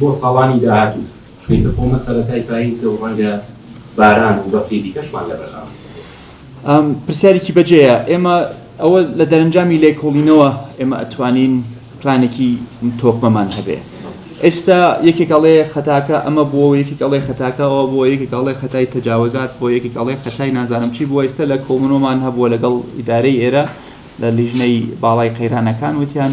بۆ ساڵانی داهاتوو چونکە کۆمە سەرەتای پاییزە و ڕەنگە باران و بەفری دیکەشمان لەبەردەام بێت. پرسیارێکی بەجێیە، ئێمە ئەوە لە دەرەنجامی لێکۆڵینەوە ئێمە ئەتوانین پلانێکی تۆکمەمان هەبێ. ئێستا یەکێک ئەڵێ خەتاکە ئەمە بووەوە، یەکێک ئەڵێ خەتاکە ئەوە بووە، یەکێک ئەڵێ خەتای تەجاوزات بووە، یەکێک ئەڵێ خەتای نازانم چی بووە، ئێستا لە کۆبوونەوەمان هەبووە لەگەڵ ئیدارەی ئێرە لە لیژنەی باڵای قەیرانەکان وتیان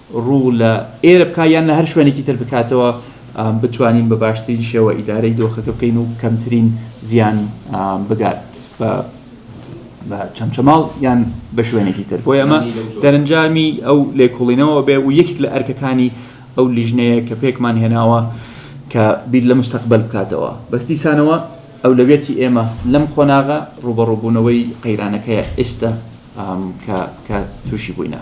ڕوو لە ئێرە بکا یان لە هەر شوێنێکی تر بکاتەوە بتوانین بە باشترین شێوە ئیدارەی دۆخەکە بکەین و کەمترین زیان بگات بە بە چەمچەماڵ یان بە شوێنێکی تر بۆ ئەمە دەرەنجامی ئەو لێکۆڵینەوە بێ و یەکێک لە ئەرکەکانی ئەو لیژنەیە کە پێکمان هێناوە کە بیر لە مستەقبل بکاتەوە بەس دیسانەوە ئەولەویەتی ئێمە لەم قۆناغە ڕوبەڕوبوونەوەی قەیرانەکەیە ئێستا کە تووشی بووینە.